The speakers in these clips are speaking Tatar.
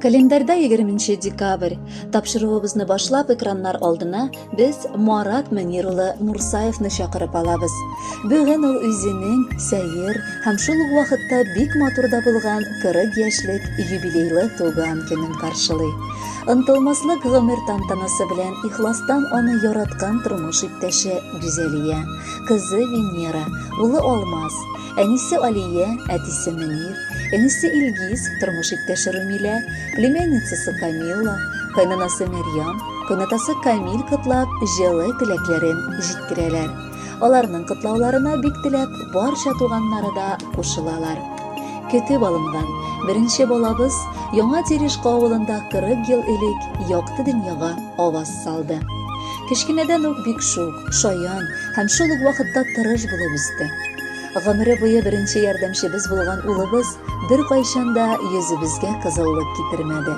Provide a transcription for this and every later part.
Календарьда 20 декабрь. Тапшыруыбызны башлап экраннар алдына без Марат Мөнир улы Мурсаевны чакырып алабыз. Бүген ул үзенең сәер һәм шул ук вакытта бик матур да булган 40 яшьлек юбилейлы туган көнен каршылый. Ынтылмаслык гомер тантанасы белән ихластан аны яраткан тормыш иптәше Гүзәлия, кызы Венера, улы Алмаз, Әнисе Алия, әтисе Мөнир, энесе Илгиз, тормыш иптәше Румилә, племянницасы Камилла, кайнанасы Мәрьям, кайнатасы Камил котлап, җылы теләкләрен җиткерәләр. Аларның котлауларына бик теләп барча туганнары да кушылалар. Көтеп алынган беренче балабыз яңа Терешка авылында 40 ел элек якты дөньяга аваз салды. Кечкенәдән үк бик шук, шаян һәм шул ук вакытта тырыш булып үсте. Гомере буе беренче ярдәмчебез булган улыбыз беркайчан да йөзебезгә кызыллык китермәде.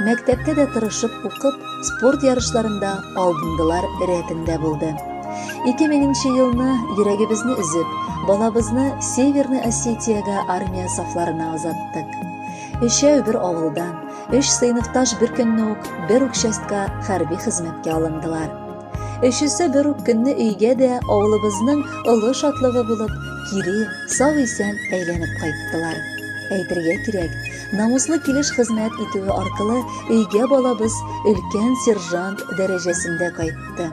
Мәктәптә дә тырышып укып, спорт ярышларында алдындылар рәтендә булды. 2000 елны йөрәгебезне өзеп, балабызны Северный Осетиягә армия сафларына озаттык. Өчәү бер авылдан, Өч сыйныфташ бер көнне үк бер үк частька хәрби хезмәткә алындылар. Өчесе бер үк көнне өйгә дә авылыбызның олы шатлыгы булып, кире сау-исән әйләнеп кайттылар. Әйтергә кирәк, намуслы килеш хезмәт итүе аркылы өйгә балабыз өлкән сержант дәрәҗәсендә кайтты.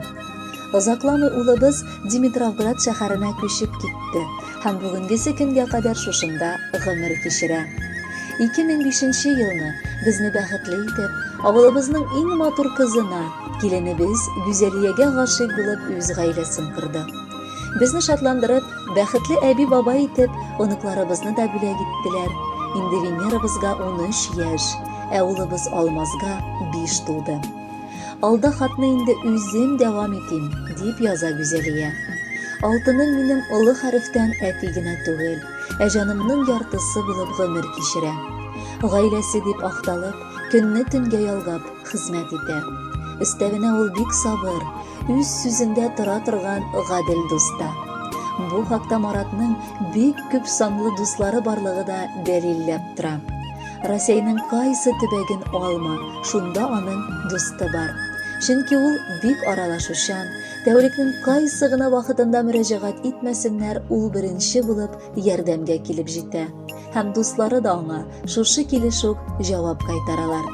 Озакламый улыбыз Димитровград шәһәренә күчеп китте. һәм бүгенгесе көнгә кадәр шушында гомер кичерә. 2005 елны безне бәхетле итеп, авылыбызның иң матур кызына, киленебез Гүзәлиягә гашыйк булып үз гаиләсен корды. Безне шатландырып, бәхетле әби-бабай итеп, оныкларыбызны да бүләк иттеләр. Инде Венерабызга 13 яшь, ә улыбыз Алмазга 5 тулды. Алда хатны инде үзем дәвам итим, дип яза Гүзәлия. Алтыным минем олы хәрефтән әти генә түгел, ә җанымның яртысы булып гомер кичерә. Гаиләсе дип акталып, көнне төнгә ялгап хезмәт итә. Өстәвенә ул бик сабыр, үз сүзендә тора торган гадел дуста. Бу хакта Маратның бик күп санлы дуслары барлыгы да дәлилләп тора. Росейның кайсы төбәген алма, шунда аның дусты бар. Чөнки ул бик аралашучан, тәүлекнең кайсы гына вакытында мөрәҗәгать итмәсеннәр, ул беренче булып ярдәмгә килеп җитә. Һәм дуслары да аңа шушы килеш үк җавап кайтаралар.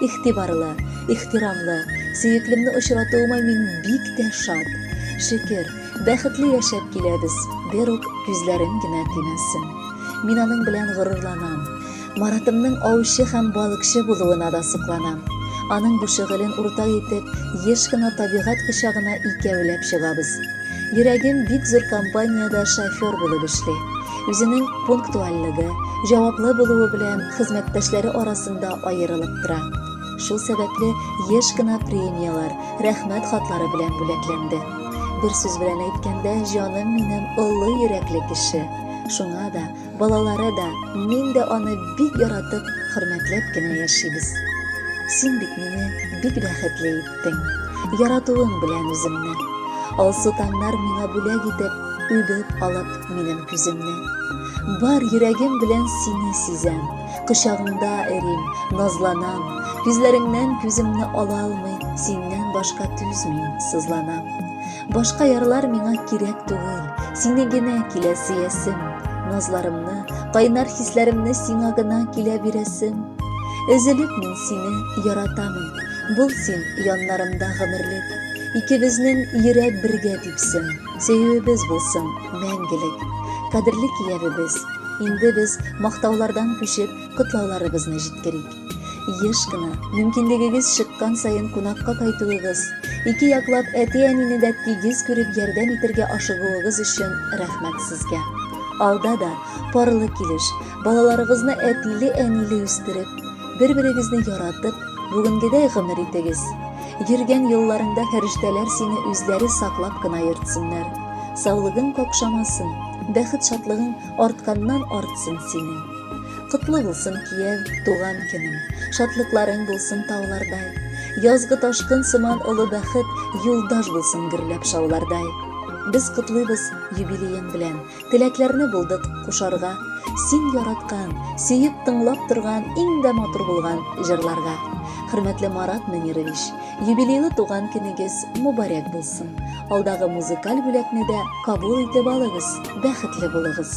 Ихтибарлы, ихтирамлы, сөеклемне очратуыма мин бик тә шат. Шөкер, Бәхетле яшәп киләбез, берүк күзләрем генә тимәсен. Мин аның белән горурланам. Маратымның аучы һәм балыкчы булуына да сокланам. Аның бу шөгылен уртак итеп, еш кына табигать кочагына икәүләп чыгабыз. Йөрәгем бик зур компаниядә шофер булып эшли. Үзенең пунктуальлеге, җаваплы булуы белән хезмәттәшләре арасында аерылып тора. Шул сәбәпле еш кына премияләр, рәхмәт хатлары белән бүләкләнде. Бер сүз белән әйткәндә, җаным минем олы йөрәкле кеше. Шуңа да, балалары да, мин дә аны бик яратып, хөрмәтләп кенә яшибез. Син бит мине бик бәхетле иттең. Яратуың белән үземне. Алсу таңнар миңа бүләк итеп, үбеп алып минем күземне. Бар йөрәгем белән сине сизәм. Кочагыңда эрим, назланам, Күзләреңнән күземне ала алмый, Синнән башка түзми, сызланам. Башка ярлар миңа кирәк түгел, Сине генә килә сөясем. Назларымны, кайнар хисләремне Сиңа гына килә бирәсем. Өзелеп мин сине яратамын, Бул син яннарымда гомерлек. Икебезнең йөрәк бергә типсен. Сөюебез булсын мәңгелек! Кадерле киявебез! Инде без мактаулардан күчеп, котлауларыбызны җиткерик. Еш кына, мөмкинлегегез чыккан саен кунакка кайтуыгыз, ике яклап әти-әнине дә тигез күреп ярдәм итергә ашыгуыгыз өчен рәхмәт сезгә. Алда да парлы килеш, балаларыгызны әтиле-әниле үстереп, бер-берегезне яратып, бүгенгедәй гомер итегез. Йөргән юлларыңда фәрештәләр сине үзләре саклап кына йөртсеннәр. Саулыгың какшамасын, бәхет шатлыгың артканнан артсын синең. Котлы булсын кияв, туган көнең, шатлыкларың булсын таулардай. Язгы ташкын сыман олы бәхет юлдаш булсын гөрләп шаулардай. Без котлыйбыз юбилеең белән, Теләкләрне булдык кушарга, Син яраткан, сөеп тыңлап торган Иң дә матур булган җырларга. Хөрмәтле Марат Мөнирович, юбилейлы туган көнегез мубарәк булсын. Алдагы музыкаль бүләкне дә кабул итеп алыгыз, бәхетле булыгыз!